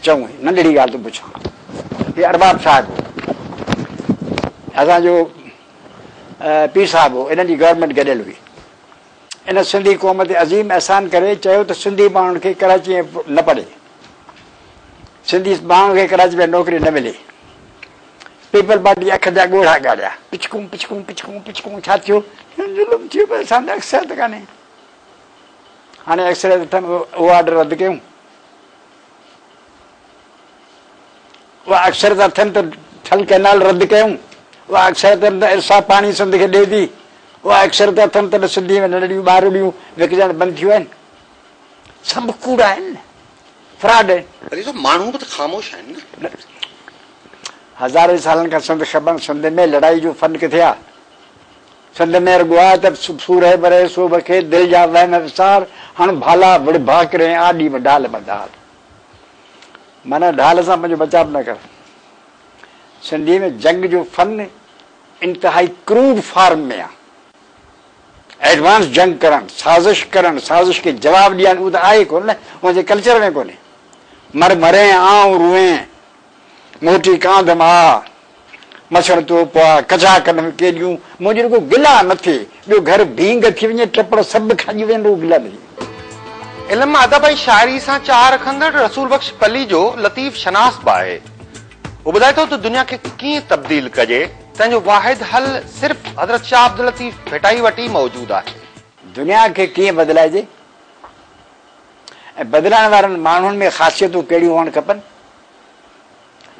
چڱو هي ننڍڙي ڳالهه ٿو پڇان. هي ارباب صاحب هو. اسان جو پير صاحب هو. انهن جي گورنمينٽ گڏيل هئي. ان سنڌي قوم تي عظيم احسان ڪري چيو ته سنڌي ماڻهن کي ڪراچي ۾ نه پڙهي. سنڌي ماڻهن کي ڪراچي ۾ نوڪري نه ملي. پيپل پارٽي جي اک جا ڳوڙها ڳاڙيا. پڇڪون پڇڪون پڇڪون پڇڪون ڇا ٿيو؟ ظلم ٿيو پر اسان ته اڪثريت ڪانهي. هاڻي ايڪس ري اٿن اهو آرڊر رد ڪيون اها اڪثرت اٿن ته ٺل ڪئنال رد ڪيون اها اڪثرت اٿن ته ارسا پاڻي سنڌ کي ڏي ٿي اها اڪثرت اٿن ته سنڌي ۾ ننڍڙيون ٻارڙيون وڪجڻ بند ٿيون آهن سڀ ڪوڙا آهن فراڊ آهن علي صاحب ماڻهو به ته خاموش آهن نه هزارين سالن کان سنڌ خبن سنڌ ۾ لڙائي جو فن ڪٿي آ سنڌ ۾ رڳو آء ته سورهيه برهيه سوڀ کي دل جا وهم وسار هڻ ڀالا وڙهه ڀاڪر ۽ آڏي و ڍال مدال معنيٰ ڍال سان پنهنجو بچاء نه ڪر سنڌي ۾ جنگ جو فن انتهائي ڪروڊ فارم ۾ آ ايڊوانس جنگ ڪرڻ سازش ڪرڻ سازش کي جواب ڏيڻ اهو ته آهي ڪونه نه ان جي ڪلچر ۾ ڪونهي مر مرين آئون روئين موٽي ڪانڌ م آ، مڇر تو پوا ڪچا ڪنم ڪيڏيون، منهنجي رڳو گلا نه ٿئي، ٻيو گهر ڀينگ ٿي وڃي، ٽپڙ سڀ کڄي وين رڳو گلا نه ٿئي. علم، ادب ۽ شاعري سان چاهه رکندڙ رسول بخش پليجو لطيف شناس به آهي. هو ٻڌائي ٿو ته دنيا کي ڪيئن تبديل ڪجي، تنهن جو واحد حل صرف حضرت شاهه عبداللطيف ڀٽائي وٽ ئي موجود آهي. دنيا کي ڪيئن بدلائجي ۽ بدلائڻ وارن ماڻهن ۾ خاصيتون ڪهڙيون هئڻ کپن،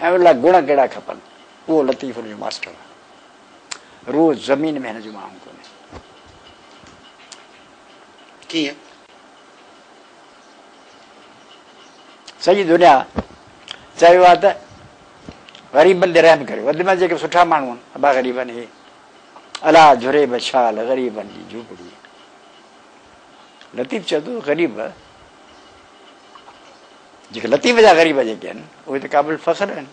۽ ان لاء گڻ ڪهڙا کپن؟ اهو لطيف ان جو ماسٽر آهي. روح زمين ۾ هن جو ماڻهو ڪونهي. ڪيئن؟ سڄي دنيا چيو آهي ته غريبن تي رحم ڪريو. وڌ ۾ جيڪي سٺا ماڻهو آهن، ابا غريبن هي الا جھري بشال غريبن جي جھوپڙي. لطيف چوي ٿو غريب جيڪي لطيف جا غريب جيڪي آهن اهي ته قابل فخر آهن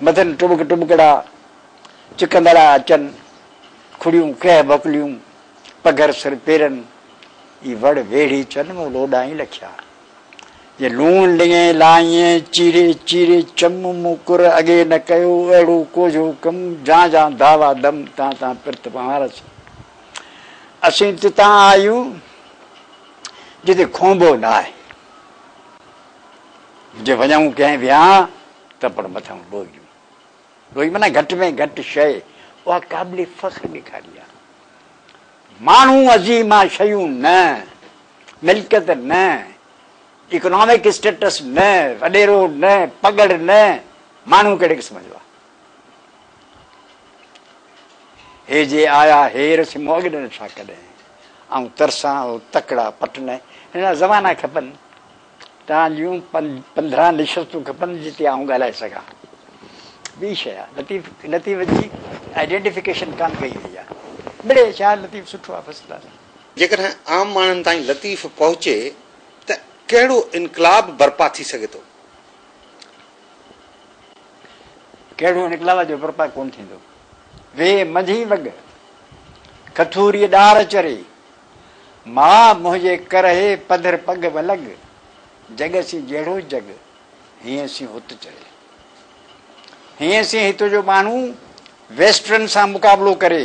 مٿن ٽٻڪ ٽٻڪڙا چڪندڙا اچن کڙيون ڪهه ڀڪليون پگهر سر پيرن اي وڙ ويڙهي چن مون لوڏائين لکيا جي لوڻ لڱين لائين چيري چيري چم مون ڪر اڳي نه ڪيو اهڙو ڪوجهو ڪم جان جان داوا دم تان تان پرت پهارس اسين تتان آيون جتي کونڀو نه آهي. جي وڃائون ڪنهن ويان ته پڻ مٿان ڏوئجون. ڏوئي معنيٰ گهٽ ۾ گهٽ شيء اها قابل فخر ڏيکاري آ. ماڻهو عظيم آ شيون نه، ملڪيت نه، اڪنامڪ اسٽيٽس نه، وڏيرو نه، پڳڙ نه، ماڻهو ڪهڙي قسم جو آ. هي جي آيا هير سي مون اڳ نه ڏٺا ڪڏهن آئون ترسان هو تڪڙا پٽ نه هن لاء زبانا کپن تان جون پندرهن نشستون کپن جتي آئون ڳالهائي سگهان ٻي شي آ لطيف لطيف جي آئيڊينٽيفڪيشن ڪان ڪئي وئي آ مڙي شاعر لطيف سٺو آ فرسٽ ڪلاس جيڪڏهن عام ماڻهن تائين لطيف پهچي ته ڪهڙو انقلاب برپا ٿي سگهي ٿو. ڪهڙو نڪلالا جو برپا ڪونه ٿيندو. وي منجهي وڳ کٿوريء ڏار چري، ماء منهنجي ڪرهي پڌر پڳ ولڳ، جڳ سين جهڙو جڳ، هينئن سين هت چري. هينئن سين هت جو ٻانهو ويسٽرن سان مقابلو ڪري.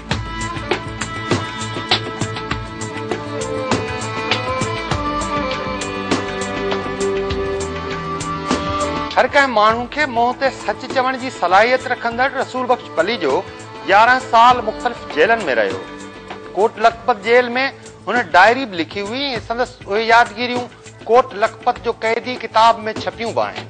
هر ڪنهن ماڻهو کي منهن تي سچ چوڻ جي صلاحيت رکندڙ رسول بخش پليجو يارهن سال مختلف جيلن ۾ رهيو. ڪوٽ لکپت جيل ۾ هن ڊائري به لکي هئي ۽ سندس اهي يادگيريون ڪوٽ لکپت جو قيدي ڪتاب ۾ ڇپيون به آهن.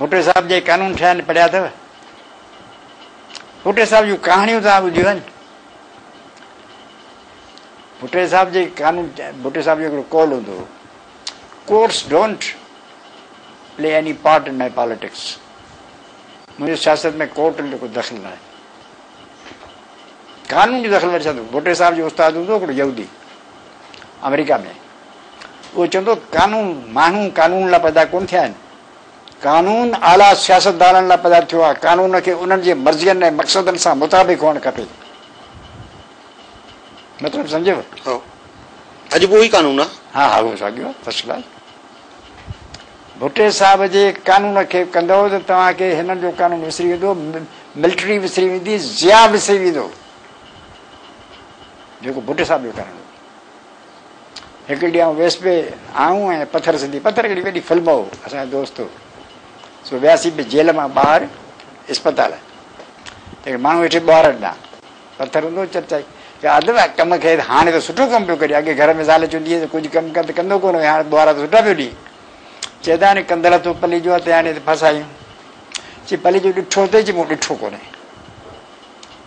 ڀٽو صاحب جي قانون ٺهيا آهن پڙهيا اٿو؟ ڀٽو صاحب جون ڪهاڻيون توهان ٻڌيون آهن؟ ڀٽو صاحب جي قانون ڀٽو صاحب جو هڪڙو قول هوندو هو course don't play any part in my politics منهنجو سياست ۾ ڪورٽ جو ڪو دخل ناهي قانون جو دخل وري ڇا ڀٽو صاحب جو استاد هوندو هڪڙو يهودي آمريڪا ۾ اهو چوندو قانون ماڻهو قانون لاء پيدا ڪونه ٿيا آهن قانون اعليٰ سياستدانن لاء پيدا ٿيو آهي قانون کي انهن جي مرضين ۽ مقصدن سان مطابق هئڻ کپي مطلب سمجهيو ها اڄ به اهي قانون آهي ها ها اهو ساڳيو فرسٽ ڪلاس ڀٽي صاحب جي قانون کي ڪندو ته توهان کي هنن جو قانون وسري ويندو ملٽري وسري ويندي ضياء وسري ويندو جيڪو ڀٽ صاحب جو ڪرڻ هو. هڪڙي ڏينهن آئون ويس پئي، آئون ۽ پٿر سنڌي، پٿر هڪڙي وڏي فلم هو، اسان جو دوست هو، سو وياسين پئي جيل مان ٻاهر اسپتال، ته هڪ ماڻهو ويٺي ٻوهارن ڏانهن، پٿر هوندو هو چرچائي، چيو ادب آ ڪم کي ته هاڻي ته سٺو ڪم پيو ڪرين، اڳي گهر ۾ زال چوندي هيس ته ڪجهه ڪم ڪر ته ڪندو ڪونه هئين، هاڻي ٻوهارا ته سٺا پيو ڏئين. چئي ته هاڻي ڪندل هٿ پلي جو آ، تيهاڻي ته ڦاسايون. چي پلي جو ڏٺو اٿئي، چي مون ڏٺو ڪونهي.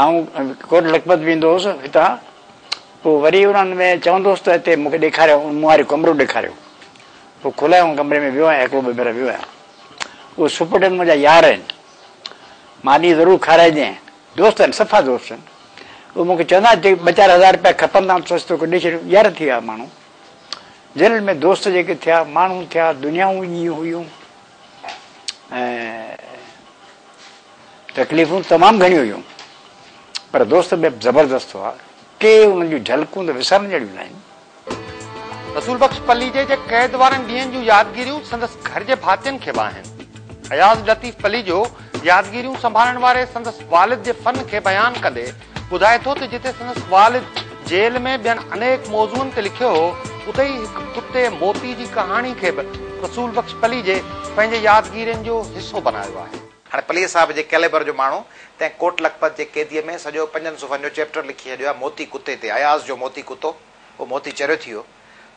آئون ڪوٽ لکپت ويندو هوس هتان پوء وري انهن ۾ چوندو هوس ته هتي مون کي ڏيکاريو مون واريون ڪمرو ڏيکاريو پوء کلايائون ڪمري ۾ ويو آهيان هڪڙو ٻه ڀيرا ويو آهيان اهي سپرڊينٽ منهنجا يار آهن ماني ضرور کارائجين دوست آهن صفا دوست آهن اهي مون کي چوندا آهن جي ٻه چار هزار روپيا کپن ٿا سوچ توکي ڏئي ڇڏيون يار ٿي ويا ماڻهو جيلن ۾ دوست جيڪي ٿيا ماڻهو ٿيا دنيائون جيئن هيون ۽ تڪليفون تمام گهڻيون هيون پر دوست به زبردست هئا. ڪي انهن جون جهلڪون ته وسارڻ جهڙيون ناهن. رسول بخش پليجي جي قيد وارن ڏينهن جون يادگيريون سندس گهر جي ڀاتين کي به آهن. اياز لطيف پليجو يادگيريون سنڀالڻ واري سندس والد جي فن کي بيان ڪندي ٻڌائي ٿو ته جتي سندس والد جيل ۾ ٻين انيڪ موضوعن تي لکيو هو، اتي ئي هڪ ڪتي موتي جي ڪهاڻي کي به رسول بخش پليجي پنهنجي يادگيرين جو حصو بنايو آهي. هاڻي پليجي صاحب جي ڪيليبر جو ماڻهو تنهن ڪوٽ لکپت جي قيديء ۾ سڄو پنجن صفحن جو چيپٽر لکي ڇڏيو آهي موتي ڪتي تي. اياز جو موتي ڪتو، اهو موتي چريو ٿي ويو،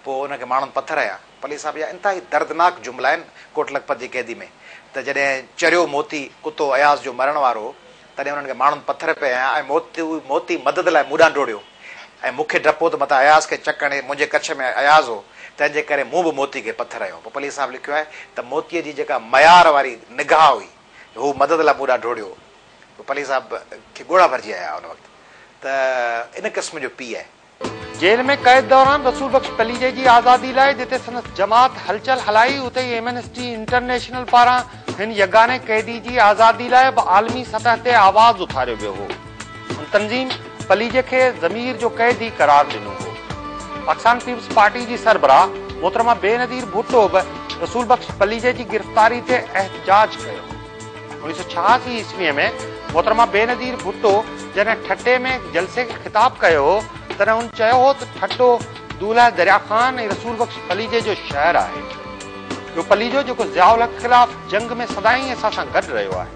پوء ان کي ماڻهن پٿر هنيا. پليجي صاحب جا انتهائي دردناڪ جملا آهن ڪوٽ لکپت جي قيدي ۾ ته جڏهن چريو موتي ڪتو اياز جو مرڻ وارو هو تڏهن انهن کي ماڻهن پٿر پئي هنيا ۽ موتي موتي مدد لاء مون ڏانهن ڊوڙيو ۽ مون کي ڊپ هو ته متان اياز کي چڪ هڻي، منهنجي ڪڇ ۾ اياز هو، تنهن جي ڪري مون به موتي کي پٿر هنيو. پپليء صاحب لکيو آهي ته موتيء جي جيڪا ميار واري نگاهه هئي، هو مدد لاء مون ڏانهن ڊوڙيو. پپليء صاحب کي ڳوڙها ڀرجي آيا ان وقت ته ان قسم جو پيء. جيل ۾ قيد دوران رسول بخش پليجي جي آزادي لاء جتي سندس جماعت هلچل هلائي اتي ئي ايمنسٽي انٽرنيشنل پاران هن يگاني قيدي جي آزادي لاء به عالمي سطح تي آواز اٿاريو ويو هو. هن تنظيم پليجي کي ضمير جو قيدي قرار ڏنو هو. پاڪستان پيپلز پارٽي جي سربراهه محترمه بينظير ڀٽو به رسول بخش پليجي جي گرفتاري تي احتجاج ڪيو. انيس سؤ ڇهاسي عيسويء ۾ محترمه بينظير ڀٽو جڏهن ٺٽي ۾ جلسي کي خطاب ڪيو هو، تڏهن هن چيو هو ته ٺٽو دولهه دريا خان ۽ رسول بخش پليجي جو شهر آهي. اهو پليجو جيڪو ضياء الحق خلاف جنگ ۾ سدائين اسان سان گڏ رهيو آهي.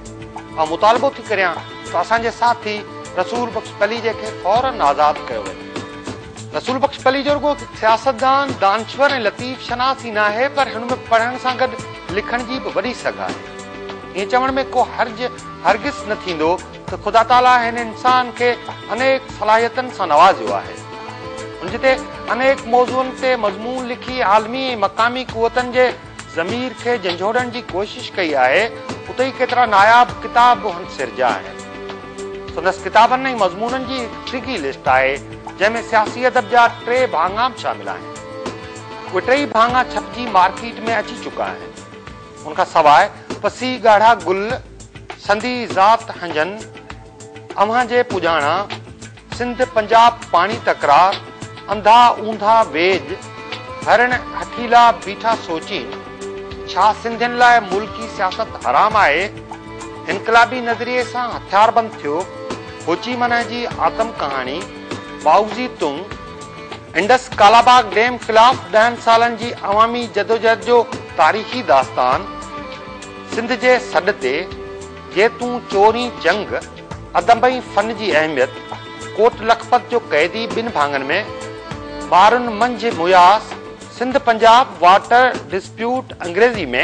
آئون مطالبو ٿي ڪريان ته اسان جي ساٿي رسول بخش پليجي کي فوراً آزاد ڪيو وڃي. رسول بخش پليجو رڳو هڪ سياستدان، دانشور ۽ لطيف شناس ئي ناهي پر هن ۾ پڙهڻ سان گڏ لکڻ جي به وڏي سگهه آهي. ائين چوڻ ۾ ڪو حرج هرگز نه ٿيندو ته خدا تعاليٰ هن انسان کي انيڪ صلاحيتن سان نوازيو آهي. هن جتي انيڪ موضوعن تي مضمون لکي عالمي ۽ مقامي قوتن جي ضمير کي جنجهوڙڻ جي ڪوشش ڪئي آهي، اتي ئي ڪيترا ناياب ڪتاب به هن سرجيا آهن. سندس ڪتابن ۽ مضمونن جي هڪ ڊگهي لسٽ آهي، جنهن ۾ سياسي ادب جا ٽي ڀاڱا به شامل آهن. اهي ٽيئي ڀاڱا ڇپجي مارڪيٽ ۾ اچي چڪا آهن. ان کان سواء پسي ڳاڙها گل، سندي ذات هنجن، اوهان جي پڄاڻا، سنڌ پنجاب پاڻي تڪرار، انڌا اونڌا ويڄ، هرڻ هٺيلا بيٺا سوچين، ڇا سنڌين لاء ملڪي سياست حرام آهي؟ انقلابي نظريي سان هٿياربند ٿيو، هوچي منهه جي آتم ڪهاڻي، Mao Zedong, Indus Kalabagh dam خلاف ڏهن سالن جي عوامي جدوجهد جو تاريخي داستان، سنڌ جي سڏ تي، جي تون چورين جنگ، ادب ۽ فن جي اهميت، ڪوٽ لکپت جو قيدي ٻن ڀاڱن ۾، ٻارن منجهه مياس، سنڌ پنجاب واٽر ڊسپيوٽ انگريزي ۾،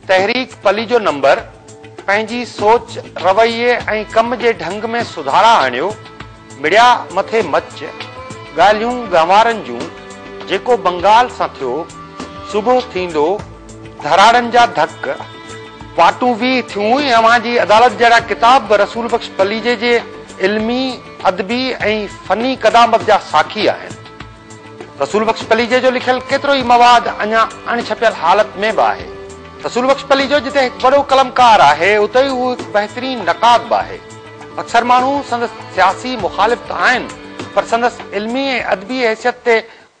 تحريڪ پليجو نمبر، پنهنجي سوچ، رويي ۽ ڪم جي ڍنگ ۾ سڌارا آڻيو، مڙيا مٿي مچ، ڳالهيون ڳنوارن جون، جيڪو بنگال سان ٿيو، صبح ٿيندو ڌراڙن جا ڌڪ، واٽون به ٿيون ۽ اوهان جي عدالت جهڙا ڪتاب به رسول بخش پليجي جي علمي، ادبي ۽ فني قدامت جا ساکي آهن. رسول بخش پليجي جو لکيل ڪيترو ئي مواد اڃا اڻ ڇپيل حالت ۾ به آهي. رسول بخش پليجو جتي هڪ وڏو قلمڪار آهي، اتي ئي هو هڪ بهترين نقاد به آهي. اڪثر ماڻهو سندس سياسي مخالف ته آهن پر سندس علمي ۽ ادبي حيثيت تي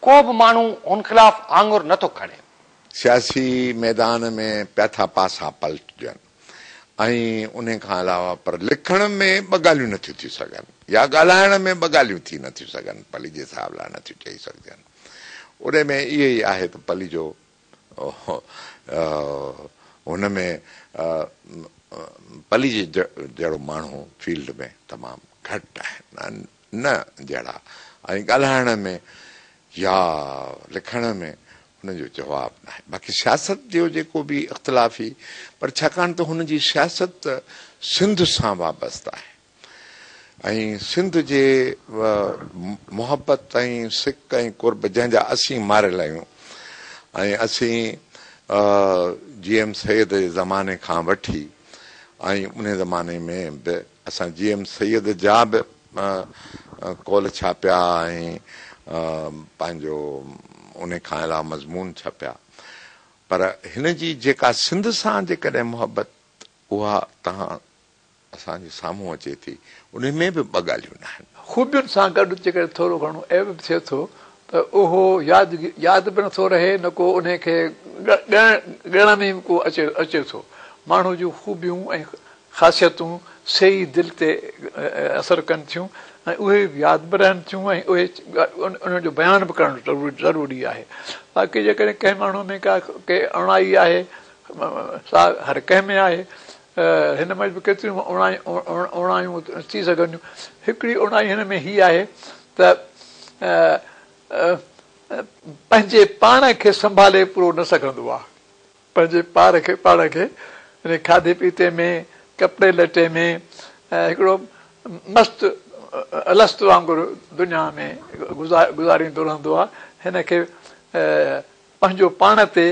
ڪو به ماڻهو هن خلاف آڱر نه ٿو کڻي. سياسي ميدان ۾ پياٿا پاسا پلٽجن ۽ انهي کان علاوه پر لکڻ ۾ ٻه ڳالهيون نٿيون ٿي سگهن يا ڳالهائڻ ۾ ٻه ڳالهيون ٿي نٿيون سگهن پليجي صاحب لاء نٿيون چئي سگهجن. انهي ۾ اهي ئي آهي ته پليجو هن ۾ پلي جي جهڙو ماڻهو فيلڊ ۾ تمام گهٽ آهن نه جهڙا ۽ ڳالهائڻ ۾ يا لکڻ ۾ ان جو جواب ناهي باقي سياست جو جيڪو به اختلافي پر ڇاڪاڻ ته هن جي سياست سنڌ سان وابسته آهي ۽ سنڌ جي محبت ۽ سڪ ۽ قرب جنهن جا اسين ماريل آهيون ۽ اسين جي ايم سيد جي زماني کان وٺي ۽ ان زماني ۾ به اسان جي ايم سيد جا به قول ڇاپيا ۽ پنهنجو ان کان علاوه مضمون ڇپيا پر هن جي جيڪا سنڌ سان جيڪڏهن محبت اها تهان اسان جي سامهون اچي ٿي انهي ۾ به ٻه ڳالهيون ناهن. خوبين سان گڏ جيڪڏهن ٿورو گهڻو عيب به ٿئي ٿو ته اهو ياد به نٿو رهي نه ڪو انهي کي ڳڻڻ ۾ به ڪو اچي ٿو. ماڻهو جون خوبيون ۽ خاصيتون سي ئي دل تي اثر ڪن ٿيون ۽ اهي ئي ياد به رهن ٿيون ۽ اهي انهن جو بيان به ڪرڻ ضروري آهي. باقي جيڪڏهن ڪنهن ماڻهو ۾ ڪا ڪي اوڻائي آهي سا هر ڪنهن ۾ آهي هن ۾ به ڪيتريون اوڻايون ٿي سگهن ٿيون. هڪڙي اوڻائي هن ۾ هي آهي ته پنهنجي پاڻ کي سنڀالي پورو نه سگهندو آهي. پنهنجي پار کي پاڻ کي يعني کاڌي پيتي ۾ ڪپڙي لٽي ۾ هڪڙو مست الست وانگر دنيا ۾ گذاريندو رهندو آهي. هن کي پنهنجو پاڻ تي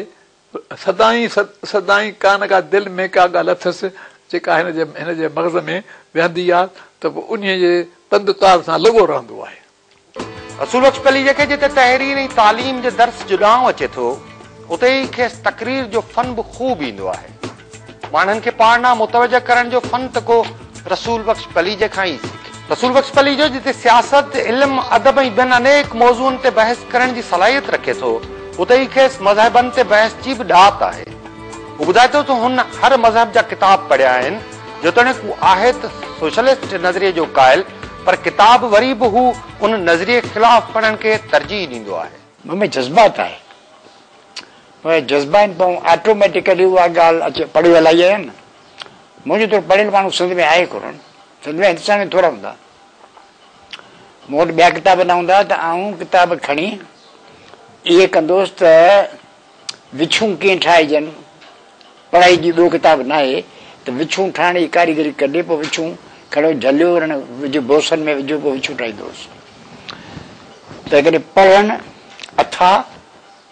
سدائين سدائين ڪا نه ڪا دل ۾ ڪا ڳالهه اٿس جيڪا هن جي هن جي مغز ۾ ويهندي آهي ته پوء انهيء جي تند تار سان لڳو رهندو آهي. رسول بخش پليجي کي جتي تحرير ۽ تعليم جي درس جڏانهن اچي ٿو اتي ئي کيس تقرير جو فن به خوب ايندو آهي. ماڻهن کي پاڻ ڏانهن متوجه ڪرڻ جو فن ته ڪو رسول بخش پليجي کان ئي سکي. رسول بخش پليجو جتي سياست، علم، ادب ۽ ٻين انيڪ موضوعن تي بحث ڪرڻ جي صلاحيت رکي ٿو، اتي ئي کيس مذهبن تي بحث جي به ڏات آهي. هو ٻڌائي ٿو ته هن هر مذهب جا ڪتاب پڙهيا آهن، جيتوڻيڪ هو آهي ته سوشلسٽ نظريي جو قائل، پر ڪتاب وري به هو ان نظريي خلاف پڙهڻ کي ترجيح ڏيندو آهي. مون ۾ جذبات آهي. اهي جذبا آهن پون آٽوميٽيڪلي اها ڳالهه اچي پڙهي الائي آهي نه منهنجي طور پڙهيل ماڻهو سنڌ ۾ آهي ڪونهن سنڌ ۾ هندستان ۾ ٿورا هوندا مون وٽ ٻيا ڪتاب نه هوندا ته آئون ڪتاب کڻي اهي ڪندوس ته وڇون ڪيئن ٺاهجن پڙهائي جي ٻيو ڪتاب نه آهي ته وڇون ٺاهڻ جي ڪاريگري ڪڍي پوء وڇون کڻيو جهليو رن وجهو بوسن ۾ وجهو پوء وڇون ٺاهيندوس تنهن ڪري پڙهڻ اٿا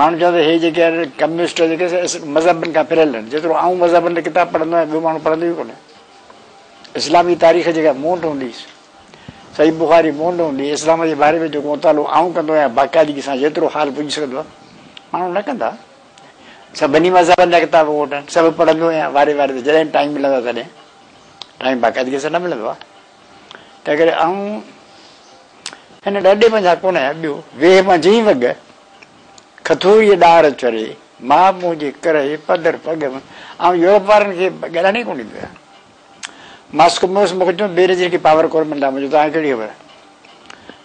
ماڻهو چون ته هي جيڪي آهن ڪميونسٽ جيڪي مذهبن کان پريل آهن جيترو آئون مذهبن جا ڪتاب پڙهندو آهيان ٻيو ماڻهو پڙهندو ئي ڪونهي اسلامي تاريخ جيڪا مون وٽ هوندي صحيح بخاري مون وٽ هوندي اسلام جي باري ۾ جيڪو مطالعو آئون ڪندو آهيان باقاعدگي سان جيترو حال پڄي سگهندو آهي ماڻهو نه ڪندا سڀني مذهبن جا کتاب ووٽ آهن سڀ پڙهندو آهيان واري واري جڏهن ٽائيم ملندو آهي تڏهن ٽائيم باقاعدگي سان نه ملندو آهي تنهنڪري آئون هن ڏاڍي منجهان ڪونه آهيان. ٻيو، ويهه منجهين وڳ، کٿوريء ڏار چري، ماء مون جي ڪرهي پڌر پڳ ۾، آئون يورپ وارن کي ڳالهائڻ ئي ڪونه ڏيندو آهيان. ماسڪوموس مون کي چيو، بي نظير کي پاور ڪونه ملندا منهنجو توهان کي ڪهڙي خبر؟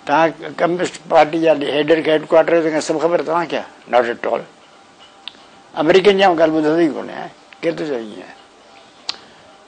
توهان ڪميونسٽ پارٽي جا هيڊ هيڊ ڪوارٽر جا سڀ خبر توهان کي آهي. Not at all. آمريڪين جي آئون ڳالهه ٻڌندو ئي ڪونه آهيان. ڪير ٿو چوي ائين؟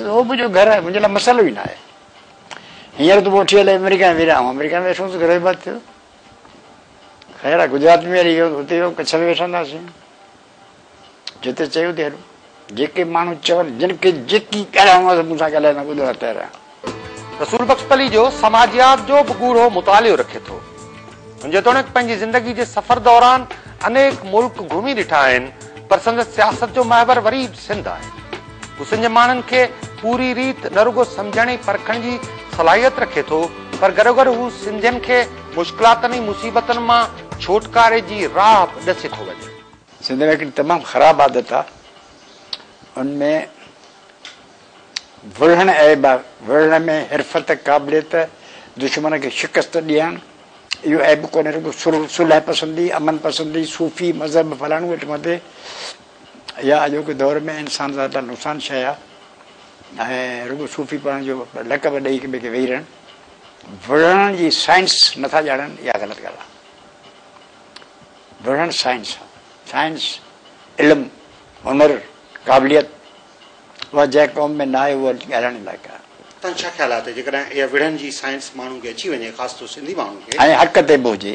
اهو منهنجو گهر آهي، منهنجي لاء مسئلو ئي نه آهي. هينئر تون پوء اٺي هلي آمريڪا ۾ ويڙهه. آئون آمريڪا ۾ ويٺو هوس، گهرو ئي بند ٿيو. خير آهي گجرات ۾ هلي ويو، اتي ويو، ڪڇ ۾ ويٺا هونداسين. جتي چئي اتي هلون. جيڪي ماڻهو چون، جن کي جيڪي ڳالهائڻو آهي سو مون سان ڳالهائي، مان ٻڌڻ لاء تيار آهيان. رسول بخش پليجو سماجيات جو به ڳوڙهو مطالعو رکي ٿو. هن جيتوڻيڪ پنهنجي زندگي جي سفر دوران انيڪ ملڪ گهمي ڏٺا آهن، پر سندس سياست جو محور وري به سنڌ آهي. حسن جي ماڻهن کي پوري ريت نه رڳو سمجهڻ ۽ پرکڻ جي صلاحيت رکي ٿو پر گڏوگڏ هو سنڌين کي مشڪلاتن ۽ مصيبتن مان ڇوٽڪاري جي راهه به ڏسي ٿو وڃي. سنڌ ۾ هڪڙي تمام خراب عادت آ ان ۾ وڙهڻ عيب آ وڙهڻ ۾ حرفت قابليت دشمن کي شڪست ڏيڻ اهو عيب ڪونهي رڳو سلهه پسندي امن پسندي صوفي مذهب فلاڻو ٽماٽي اها اڄوڪي دور ۾ انسان سان ڏاڍي نقصان شيء آهي ۽ رڳو صوفي پڙهڻ جو لقب ڏئي هڪ ٻئي کي ويهي رهڻ وڙهڻ جي سائنس نٿا ڄاڻن اها غلط ڳالهه آهي. وڙهڻ سائنس آهي. سائنس، علم، هنر، قابليت اها جنهن قوم ۾ نه آهي اها ڳالهائڻ لائق آهي. تنهن ڇا خيال آهي ته جيڪڏهن اها وڙهڻ جي سائنس ماڻهو کي اچي وڃي خاص طور سنڌي ماڻهو کي. ۽ حق تي به هجي.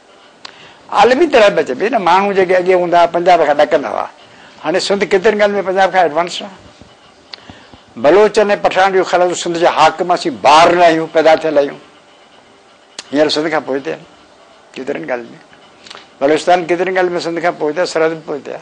عالمي طرح به چئبي نه ماڻهو جيڪي اڳي هوندا هئا پنجاب کان ڏڪندا هئا هاڻي سنڌ ڪيترين ڳالهين ۾ پنجاب کان ايڊوانس آهي بلوچن ۽ پٺاڻن جو خيال هوندو سنڌ جا حاڪم اسين بار نه آهيون پيدا ٿيل آهيون هينئر سنڌ کان پوئتي آهن ڪيترين ڳالهين ۾ بلوچستان ڪيترين ڳالهين ۾ سنڌ کان پوئتي آهي سرحد به پوئتي آهي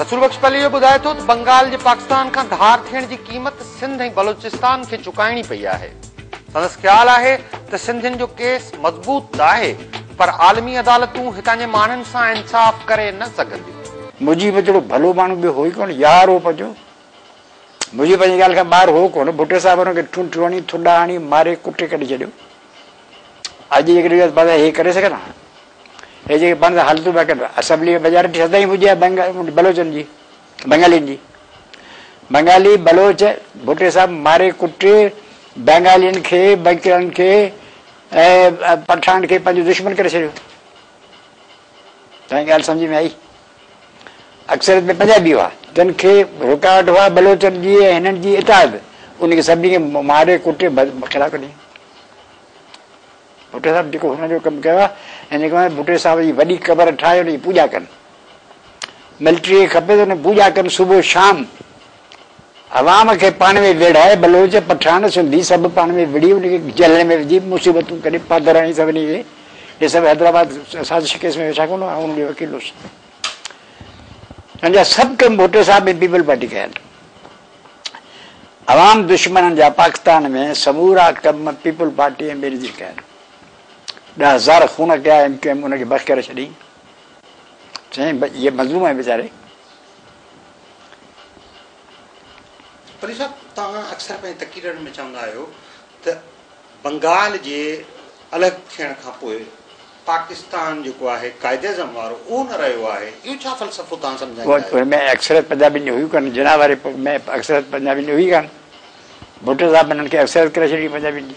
رسول بخش پليجو ٻڌائي ٿو ته بنگال جي پاڪستان کان ڌار ٿيڻ جي قيمت سنڌ ۽ بلوچستان کي چڪائڻي پئي آهي. سندس خيال آهي ته سنڌين جو ڪيس مضبوط ته آهي پر عالمي عدالتون هتان جي ماڻهن سان انصاف ڪري نه سگهنديون. مجيب جهڙو ڀلو ماڻهو ٻيو هو ئي ڪونه، يا روپ جو منهنجي پنهنجي ڳالهه کان ٻاهر هو ڪونه. ڀٽي صاحب هن کي ٺونٺيون هڻي، ٿڏا هڻي، ماري ڪٽي ڪڍي ڇڏيو. اڄ جيڪڏهن چئجي ها ته ڀلا هي ڪري سگهن ها؟ هي جيڪي پاڻ سان حالتون پيا ڪن، اسيمبليء ۾ ميجارٽي سدائين هوندي آهي بلوچن جي، بنگالين جي. بنگالي، بلوچ، ڀٽي صاحب ماري ڪٽي بنگالين کي، بنڪلن کي ۽ پٺاڻن کي پنهنجو دشمن ڪري ڇڏيو. توهان کي ڳالهه سمجهه ۾ آئي؟ اڪثريت ۾ پنجابي هئا، جن کي رڪاوٽ هئا بلوچن جي ۽ هنن جي اتحاد ان کي سڀني کي ماري ڪٽي خلاف ڪڍيائين. ڀٽي صاحب جيڪو هنن جو ڪم ڪيو آهي ۽ جيڪو ڀٽي صاحب جي وڏي قبر ٺاهي ان جي پوڄا ڪن. ملٽريء کي کپي ته ان جي پوڄا ڪن صبح شام. عوام کي پاڻ ۾ ويڙهائي بلوچ، پٺاڻ، سنڌي سڀ پاڻ ۾ وڙهي انهن کي جهلن ۾ وجهي مصيبتون ڪري پڌر هڻي سڀني کي هي سڀ حيدرآباد سازش ڪيس ۾ ويٺا ڪونه آئون انهن جو وڪيل هوس پنهنجا سڀ ڪم ڀٽو صاحب ۽ پيپلز پارٽي ڪيا آهن عوام دشمنن جا پاڪستان ۾ سمورا ڪم پيپلز پارٽي ۽ بينظير ڪيا آهن ڏهه هزار خون ڪيا ايم ڪيو ايم انهن کي بخ ڪري ڇڏي چئين هي مظلوم آهي ويچاري پليجي صاحب توهان اڪثر پنهنجي تقريرن ۾ چوندا آهيو ته بنگال جي الڳ ٿيڻ کان پوء پاڪستان جيڪو آهي قائداعظم وارو اهو نه رهيو آهي اهو ڇا فلسفو توهان سمجهائيندا آهيو. پوء ۾ اڪثريت پنجابين جي هئي ڪانه جناح واري پوء ۾ اڪثريت پنجابين جي هئي ڪانه ڀٽو صاحب انهن کي اڪثريت ڪري ڇڏي پنجابين جي.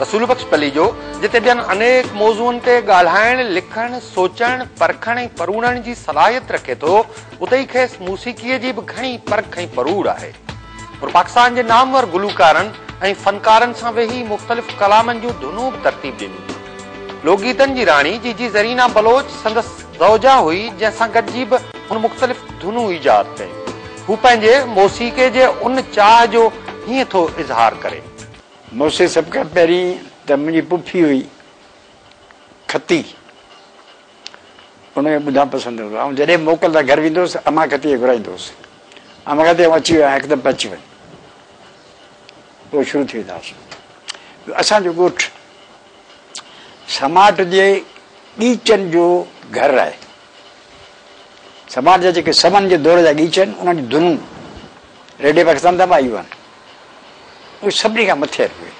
رسول بخش پليجو جتي ٻين انيڪ موضوعن تي ڳالهائڻ، لکڻ، سوچڻ، پرکڻ ۽ پروڙڻ جي صلاحيت رکي ٿو، اتي ئي کيس موسيقيء جي به گهڻي پرک ۽ پروڙ آهي. هو پاڪستان جي نامور گلوڪارن ۽ فنڪارن سان ويهي مختلف ڪلامن جون ڌنون به ترتيب ڏنيون آهن. لوڪ گيتن جي راڻي جي جي زرينا بلوچ سندس زوجه هئي، جنهن سان گڏجي به هن مختلف ڌنون ايجاد ڪيون. هو پنهنجي موسيقيء جي ان چاهه جو هيئن ٿو اظهار ڪري. مون کي سڀ کان پهرين ته منهنجي پڦي هئي کتي ان کي ٻڌڻ پسند هوندو آئون جڏهن موڪل تان گهر ويندو هوس امان کتي کي گهرائيندو هوس امان کتي آئون اچي ويو آهيان هڪدم پهچي وڃ پوء شروع ٿي ويندا هئاسين اسان جو ڳوٺ سماٽ جي ڳيچن جو گهر آهي سماٽ جا جيڪي سمن جي دور جا ڳيچا آهن انهن جون ڌنون ريڊيو پاڪستان تان به آيون آهن اهو سڀني کان مٿي اهي اهي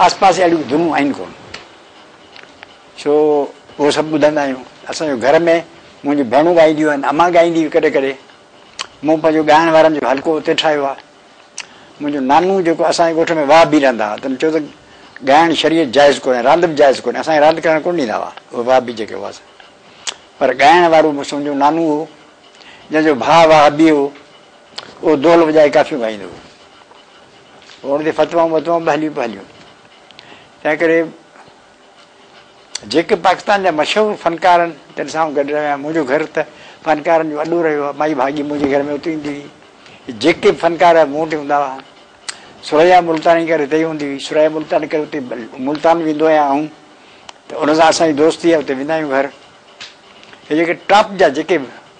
آس پاس اهڙيون ڌنون آهن ڪونه سو اهو سڀ ٻڌندا آهيون اسان جو گهر ۾ منهنجي ڀيڻون ڳائينديون آهن امان ڳائيندي هئي ڪڏهن ڪڏهن مون پنهنجو ڳائڻ وارن جو حلقو اتي ٺاهيو آهي منهنجو نانو جيڪو اسان جي ڳوٺ ۾ واهه بي رهندا هئا تن چيو ته ڳائڻ شريعت جائز ڪونهي راند به جائز ڪونهي اسان کي راند ڪرڻ ڪونه ڏيندا هئا اهي واهه بي جيڪي هئاسي پر ڳائڻ وارو مون سمجهو نانو هو جنهن جو ڀاء واهه بي هو اهو دول وڄائي ڪافيون ڳائيندو هو. هو ان تي فتوائون وتوائون به هليون پيا هليون. تنهن ڪري جيڪي پاڪستان جا مشهور فنڪارن تن سان گڏ رهيا. منهنجو گهر ته فنڪارن جو اڏو رهيو آهي. مائي ڀاڳي منهنجي گهر ۾ اتي ايندي هئي. جيڪي به فنڪار مون وٽ هوندا هئا. ثريا ملتاني ڪري اتي ئي هوندي هئي. ثريا ملتاني ڪري اتي ملتان ويندو آهيان آئون ته ان سان اسان جي دوستي آهي اتي ويندا آهيون گهر. هي جيڪي ٽاپ جا جيڪي به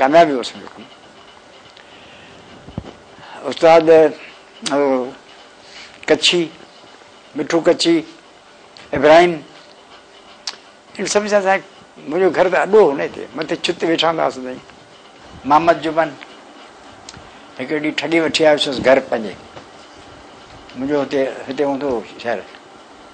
ڪاميابي وٺي سگهون. استاد ڪڇي مٺو ڪڇي ابراهيم ان سڀ سان سائين منهنجو گهر ته اڏو هو نه هتي مٿي ڇت ويٺا هوندا هئاسين سائين محمد جبن هڪڙي ڏينهن ٺڳي وٺي آيو هوس گهر پنهنجي منهنجو هتي هتي هوندو هو شهر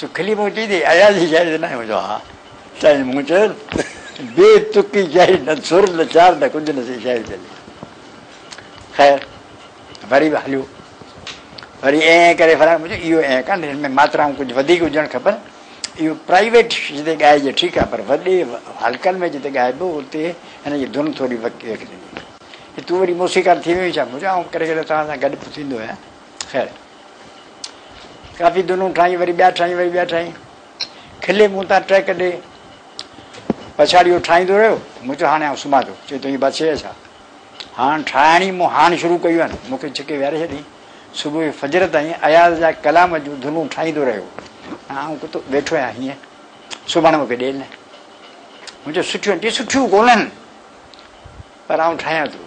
سکلي مون چئي ته اياز جي شاعري تي ناهي هوندو ها سائين مون چيس بي تڪي شاعري نه سر نه چار نه ڪجهه نه سي شاعري چلي خير وري به هليو وري اين اين ڪري فرائي مون چيو اهو اين ڪان هن ۾ ماترائون ڪجهه وڌيڪ هجڻ کپن اهو پرائيويٽ جتي ڳائجي ٺيڪ آهي پر وڏي حلقن ۾ جتي ڳائبو اتي هن جي ڌن ٿوري ويڪ ٿيندي تون وري موسيقار ٿي ويو ڇا مون چيو آئون ڪڏهن ڪڏهن توهان سان گڏ به ٿيندو آهيان خير ڪافي دنون ٺاهين وري ٻيا ٺاهين وري ٻيا ٺاهين کلي مون تان ٽهڪ ڏي پڇاڙي اهو ٺاهيندو رهيو مون چيو هاڻي آئون سمهان ٿو چي تنهنجي بس هي ڇا هاڻ ٺاهڻ ئي مون هاڻ شروع ڪيون آهن مون کي ڇڪي ويهاري ڇڏيائين صبح جو فجر تائين اياز جا ڪلام جون ڌنون ٺاهيندو رهيو ۽ آئون ڪتو ويٺو آهيان هيئن سمهڻ مون کي ڏي نه مون چيو سٺيون چي سٺيون ڪونهن پر آئون ٺاهيان ٿو.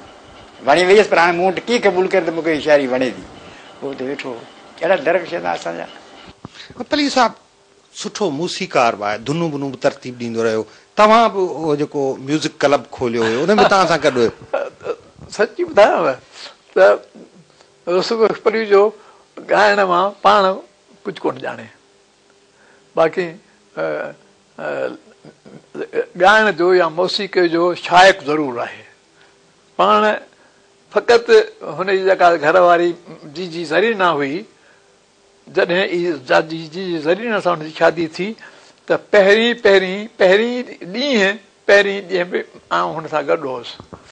وڻي ويس پر هاڻي مون وٽ ڪيئن قبول ڪري ته مون کي هي شاعري وڻي ٿي. هو اتي ويٺو هو. ڪهڙا درڪ ڇندا اسان جا. پليجي صاحب سٺو موسيقار به آهي ڌنون بنون به ترتيب ڏيندو رهيو توهان به اهو جيڪو ميوزڪ ڪلب کوليو هيو ان ۾ توهان سان گڏ هيو. سچي ٻڌايان نه ته رسول بخش پليجو ڳائڻ مان پاڻ ڪجهه ڪونه ڄاڻي. باقي ڳائڻ جو يا موسيقيء جو شائق ضرور آهي. پاڻ فقط هن جي جيڪا گهر واري جي جي زرينه هئي، جڏهن ئي جي جي زرينه سان هن جي شادي ٿي ته پهرين پهرين پهرين ڏينهن پهرين ڏينهن به آئون هن سان گڏ هوس.